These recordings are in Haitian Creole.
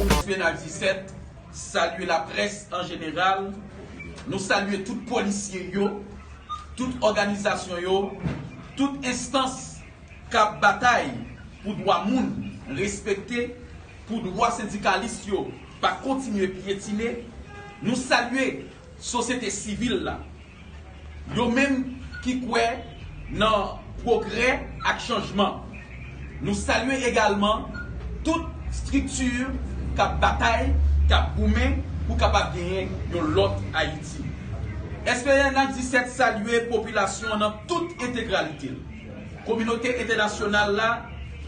Nasyonal 17, salye laprès an jeneral, nou salye tout polisye yo, tout òganizasyon yo, tout enstans k ap batay pou dwa moun respekte, pou dwa sendikalis yo pa kontinye pyetine, nou salye. Sosyete sivil la, yo menm ki kwè nan pwogrè ak chanjman. Nou salye egalman tout strikti k ap batay, k ap goumen pou kapab genyen yon lòt Ayiti. SPNH 17 salye popilasyon nan tout entegralite l, kominote entènasyonal la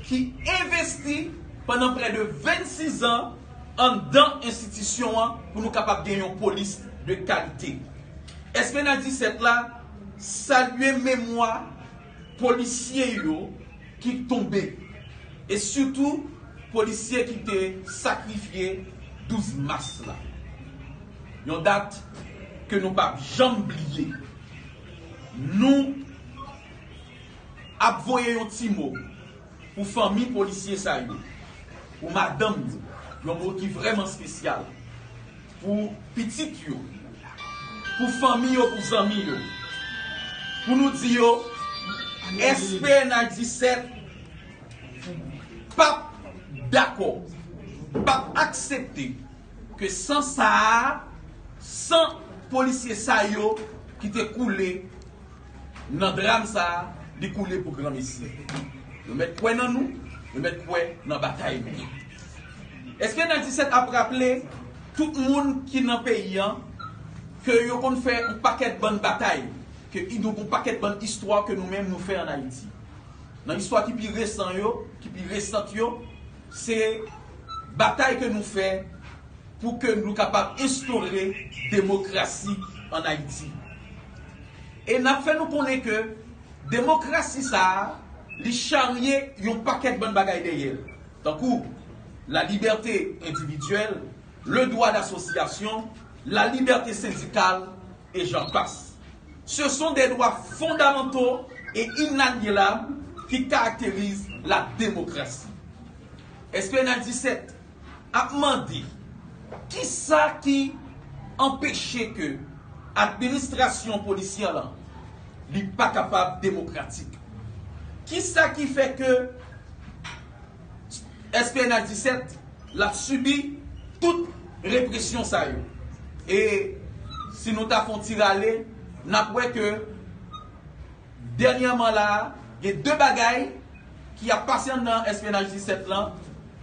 ki envesti pandan prè de 26 zan, anndan enstitisyon an pou nou kapab gen yon polis de kalite. Èske nan 17 la salye memwa polisye yo ki tonbe e sitou polisye ki te sakrifye 12 mas la? Yon dat ke nou pap janm bliye. Nou ap voye yon ti mo. Pou fanmi polisye sa yo, pou madanm yo, yon mo ki vrèman spesyal. Pou pitit yo, pou fanmi yo, pou zanmi yo. Pou nou di yo SPNH 17 pap dakò, pap aksepte ke san sa a, san polisye sa yo ki te koule Nan dram sa a, li koule pou granmesi. Yo mèt kwè nan nou, yo mèt kwè nan batay nou. Eske Nadisèt ap raple tout moun ki nan peyi an ke yo konn fè yon pakèt bann batay, ke nou gen yon pakèt bann istwa ke nou menm nou fè an Ayiti? Nan istwa ki pi resan yo, ki pi resant yo, se batay ke nou fè pou ke nou kapab enstore demokrasi an Ayiti. E n ap fè nou konnen ke demokrasi sa a, li charye yon pakèt bann bagay dèyè l, tankou, la libète endividyèl, le dwa dasosyasyon, la libète sendikal, e jan pas. Se son de dwa fondamanto e inalienab ki karakterize la demokrasi. Èske n a di sèt? ap mande kisa ki anpeche ke administrasyon polisyè lan li pa kapab demokratik. Kisa ki fè ke SPNH 17 l ap sibi tout represyon sa yo. E si nou ta fon ti rale, n ap wè ke. Dènyèman la a, gen de bagay ki ap pase anndan SPNH 17 lan,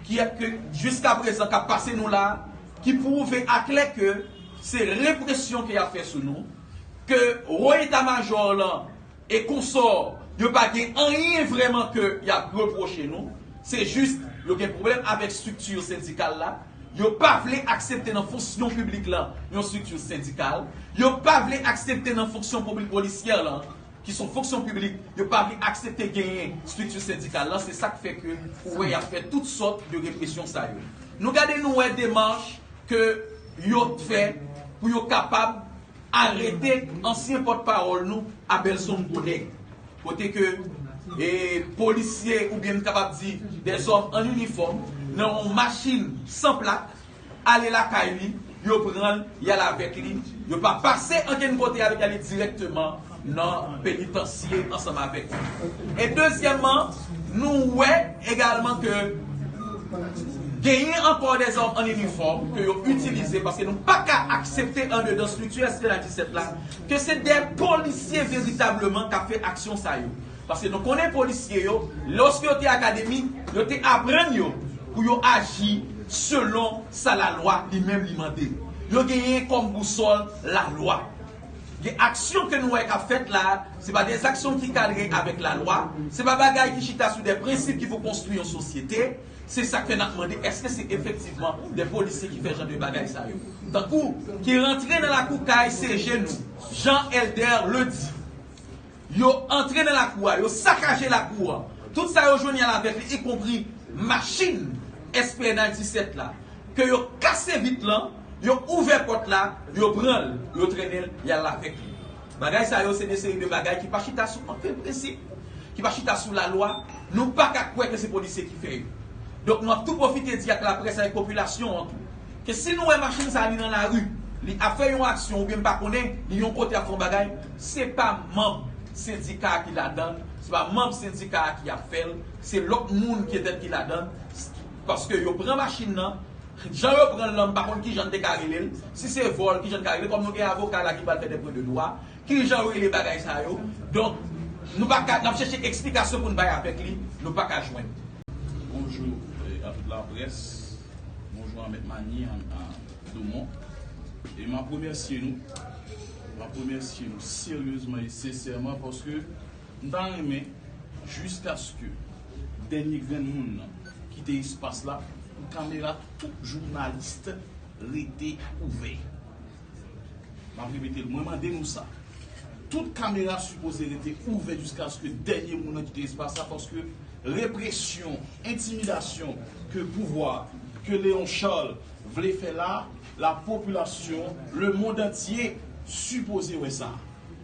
ki ap ke jiskaprezan k ap pase nou la a, ki pwouve aklè ke se represyon ke y ap fè sou nou, ke Wo Eta Majò lan e konsò yo pa gen anyen vrèman ke y ap repwoche nou, se jis yo gen pwoblèm avèk estrikti sendikal la. Yo pa vle aksepte nan fonsyon piblik lan yon strikti sendikal, yo pa vle aksepte nan fonksyon piblik polisyè lan, ki son fonksyon piblik, yo pa vle aksepte genyen strikti sendikal lan, se sak fè ke ou wè yap fè tout sòt de represyon sa yo. Nou gade nou wè demach ke yo t fè pou yo kapab arete ansyen pòt pawòl nou Abelson Godin. kote ke polisye oubyen m kapab di de zòm an inifòm nan yon machin san plak ale lakay li, yo pran l y al avèk li, yo pa pase ankenn kote avèk li ale dirèkteman nan penitansye ansanm avèk li. E dezyèmman, nou wè egalman ke genyen ankò de zòm an inifòm ke yo itilize paske nou pa ka aksepte andedan strikti SPNH 17 la, Ke se de polisye veritableman kap fè aksyon sa yo. Paske nou konnen polisye yo, loske yo te akademi, yo te aprann yo pou yo aji selon sa la lwa li menm li mande. Yo genyen kom bousol la lwa. Gen aksyon ke nou wè kap fèt la, se pa de zaksyon ki kadre avek la lwa, se pa bagay ki chita sou de prensip ki pou konstwi yon sosyete, Se sak fè nap mande eske se efektivman de polisye ki fè jan de bagay sa yo tankou ki rantre nan lakou kay CG nou jan Elder le di yo antre nan lakou a yo sakaje lakou an tout sa yo jwenn yal avek li ikonpri machin SPNH 17 la ke yo kase vit lan yo ouvè pot la yo pranl yo trennenl yal avek li. Bagay sa yo se de seri de bagay ki pa chita sou ankenn prensip, ki pa chita sou lalwa, nou pa ka kwè ke se polisye ki fè yo. Donk nou ap tou pwofite di ak laprès, avèk popilasyon an tou, ke si nou wè machin sa li nan lari, li ap fè yon aksyon oubyen m pa konnen, li yon kote ap fè yon bagay, se pa manb sendika a ki ladan l, se pa manb sendika a ki ap fè l, se lòt moun petèt ki ladan l, paske yo pran machin nan, Jan yo pranl lan m pa konn kijan n te ka rele l, si se vòl kijan n ka rele l, kòm nou gen avoka la ki pral fè dè pwen de dwa, kijan yo rele bagay sa yo, donk nou pa ka, n ap chèche eksplikasyon pou n bay avèk li, nou pa ka jwenn. Bonjou a tout la près, bonjou a mèt Manie Domon, e m ap remèsye nou, m ap remèsye nou seryezman e sensèman paske. M ta renmen jiskaske dènye grenn moun nan kite espas la pou kamera tout journalist rete ouvè. M ap repete l, mwen mande nou sa. Tout kamera sipoze rete ouvè jiskaske dènye moun nan kite espas la paske represyon, entimidasyon ke pouvwa, ke Léon Charles vle fè la, la popilasyon, le mond antye sipoze wè sa.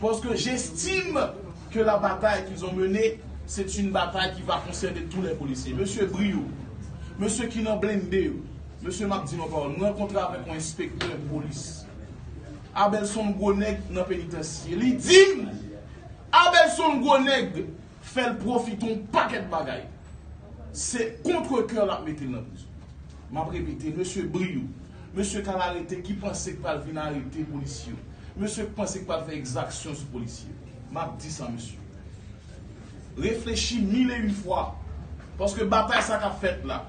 Parce que j'estime que la bataille qu'ils ont menée c'est une bataille qui va concerner tous les policiers. Mesye bri yo, mesye ki nan blende yo, mesye map di nou yon pawòl, m rankontre avèk yon enspektè polis Abel son gwo nèg nan penitansye li dim Abel son gwo nèg Fèl profite yon pakèt bagay. Se contre coeur lap metel nan prison. Map repete mesye bri yo. Mesye kal arete ki panse k pral vin arete polisye yo. Mesye k panse k pral fè ekzaksyon sou polisye yo. Map di sa mesye. Reflechi mil e yn fwa. Paske batay sa kap fèt la.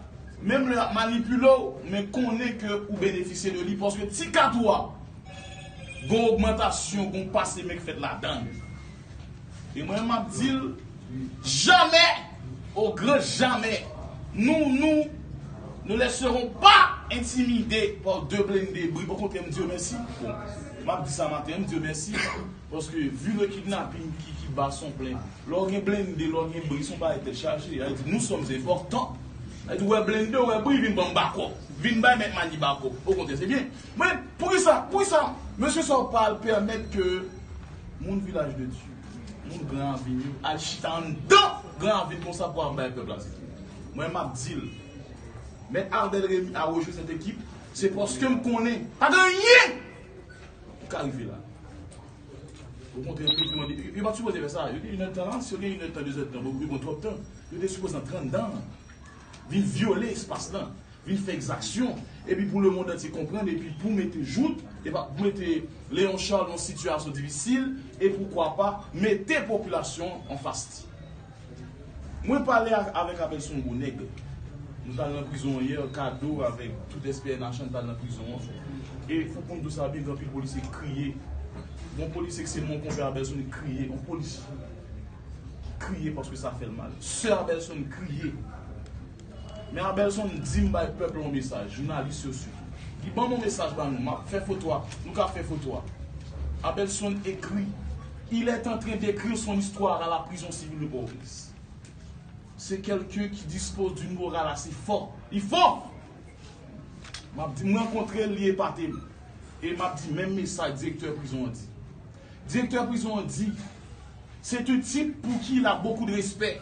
Menm lè yap manipule w men konnen ke ou benefisye de li paske ti kat ou a gon ogmantasyon gon pase men k fèt ladann. E mwen map dil jamè o gran jamè nou nou nou lèseron pa entimide pa w de blende bri o kontrè m di yo mèsi bon map di sa maten an m di yo mèsi paske vu le kidnapping ki ki ba son plen lè w gen blende lè w gen bri son bagay tèt chaje ya di nous sommes importants ya di w wè blende w wè bri vin ban m backup vin bay mèt Mani backup o kontrè se byen men poukisa poukisa mesye sa w pa al pèmèt ke Moun vilaj de Dye, moun gran ravin yo al chita anndan gran ravin konsa pou al bay pèp la tete. Mwen m ap di l, Mèt Ardel Remy a rejwe sèt ekip, se paske m konnen pa gen anyen ki ka rive la. Okontrè, yo te mande, yo pa t sipoze fè sa. Yo gen inèd tan la, si yo gen inèd tan, dezèd tan, yo gen twòp tan. Yo te sipoze nan trann dan an vin vyole espas lan. vin fè ekzaksyon epi pou lemond antye konprann epi pou mete jout epa pou mete Leon Charles nan sitiyasyon difisil e poukwa pa mete popilasyon an anfas li. Mwen pale avèk apèl son gwo nèg. Nou t al nan prizon an yè, Kado avèk tout SPNH an t al nan prizon an e ou konn tou sa byen gen anpil polisye ki kriye. Gon polisye ki se moun konpè Abelson ki kriye, yon polisye ki kriye paske sa fè l mal. Sè Abelson kriye. Men Abelson dim bay pèp la yon mesaj jounalis yo sitou li banm yon mesaj ba nou map fè foto a nou ka fè foto a Abelson écrit il est entren d'écrire son histoire à la prison civile de Port-au-Prince c'est quelqu'un qui dispose d'une morale assez fort li fò map di m rankontrel li epatem e map di menm mesaj direktè prizon an di direktè prizon an di c'est un type pour qui il a beaucoup de respect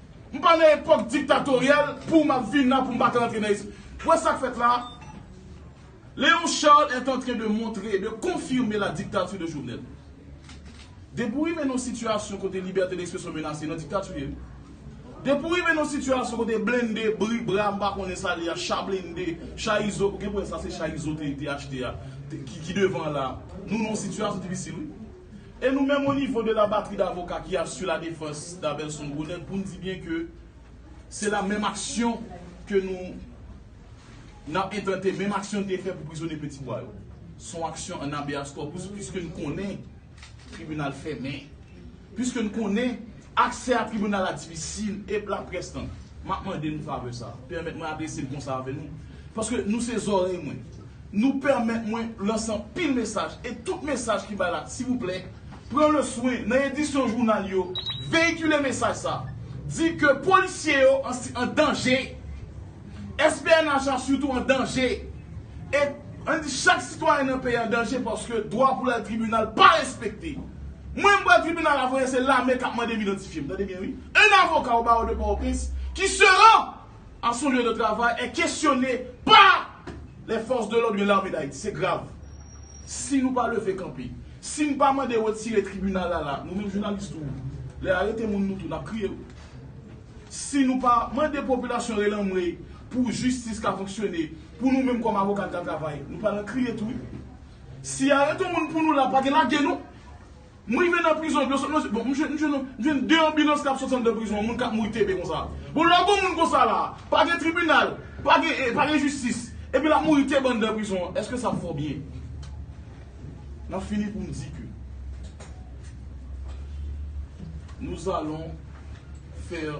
M pa nan epok diktatoryèl pouw map vin nan poum pa ka antre nan espri. Wè sak fèt la a? Léon Charles est en train de montrer, de confirmer la dictature de Jovenel. Depi w rive nan yon sitiyasyon kote libète d'expression menase nan diktati w ye wi. Depi w rive nan yon sitiyasyon kote blende, bri, bra, m pa konnen sa li a, cha blende, cha izo, gen pou wè sa se cha izo te achte a ki devan an la a. Nou nan yon sitiyasyon difisil wi. E nou menm o nivo de la batri davoka ki a su la defans Daverson Gonèt pou n di byen ke se la menm aksyon ke nou n ap entante, menm aksyon n te fè pou prizonye Peti Bwa yo. S on aksyon an abeas corpus piske n konnen tribinal fèmen, piske n konnen aksè a tribinal la difisil e p laprès tan. M ap mande n favè sa a. Pèmèt mwen adrese m konsa avè nou paske nou se zòrèy mwen. Nou pèmèt mwen lanse anpil mesaj e tout mesaj ki bay la silvouplè pran le swen nan edisyon jounal yo veyikile mesaj sa di ke polisye yo an danje SPNH la sitou an danje e an di chak sitwayen nan peyi an danje paske dwa pou lal tribinal pa respekte mwen m pral tribinal la voye se lame kap mandem idantifyem tande byen wi 1 avoka o bawo de pòtoprens ki seran a son lye de travay è kesyone pa lè fòs de lòd oubyen lame dayiti. Se grav. Si nou pa leve kanpe, si n pa mande retire tribinal la la, nou menm jounalis tou, lè y arete moun nou tou n ap kriye wi. Si nou pa mande popilasyon relanmwe pou jistis ka fonksyone, pou nou menm kòm avoka n ka travay, nou pa nan kriye tou wi. Si y arete w moun pou nou la pa gen lage non. M rive nan prizon epi yo sot nan je bon m jwenn m jwenn m jwenn 2 anbilans kap soti anndan prizon an moun kap mouri TB konsa bon lè gon moun konsa la pa gen tribinal pa gen e pa gen jistis epi lap mouri TB anndan prizon an eske sa fò byen map fini poum di ke nous allons faire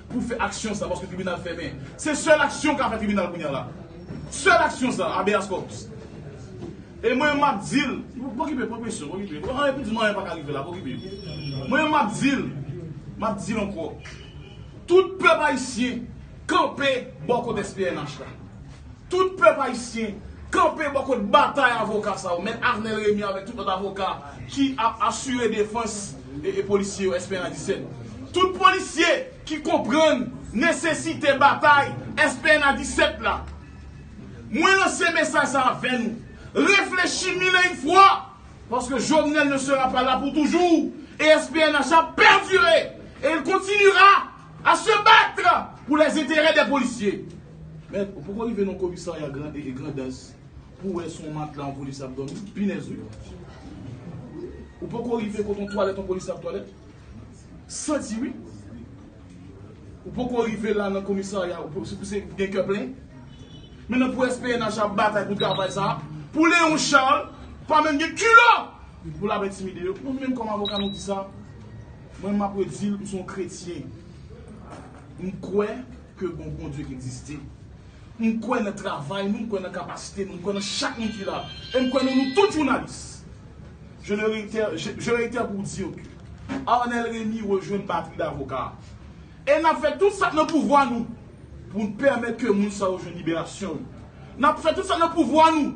pou fè aksyon sa paske tribinal fèmen. Se sèl aksyon ka fè tribinal kounya la. Sèl aksyon sa Habeas Corpus. E mwen menm map dil, pokipe pran presyon, pokipe. Ou anyen pou di m anyen paka rive la, pokipe. Mwen menm map dil, map dil ankò. Tout pèp ayisyen kanpe bò kot SPNH la. Tout pèp ayisyen kanpe bò kot batay avoka sa yo, mèt Arnel Rémy avèk tout lòt avoka ki ap asire defans polisye yo Esperan 17. Tout polisye ki konprann nesesite batay Esperan 17 la, mwen lanse mesaj sa avè nou, reflechi mil e yn fwa, paske Jovenel ne sera pas là pour toujours e SPNH la perdure et il continuera A se battre pou les intérêts des policiers. Mèd, ou poko rive nan komisarya Grandans pou w wè si yon matla yon polisye ap dòmi? Pinèz wi! Ou poko rive kote yon twalèt yon polisye ap twalèt? Santi wi! Ou poko rive la nan komisarya ou pou gen kè plen? Men nan pou SPNH ap batay pou travay sa a, pou Léon Charles pa menm gen kilò pou l ap entimide yo. Nou menm kòm avoka nou di sa. Mwen map redil m son kretyen m kwè ke gon Bondye ki egziste m kwè nan travay nou m kwè nan kapasite nou m kwè nan chak moun ki la e m kwè nan nou tout jounalis je le reitè je reitè pou dir ke Arnel Remy rejwenn batri davoka a e nap fè tout sak nan pouvwa nou pou n pèmèt ke moun sa yo jwenn liberasyon yo nap fè tout sak nan pouvwa nou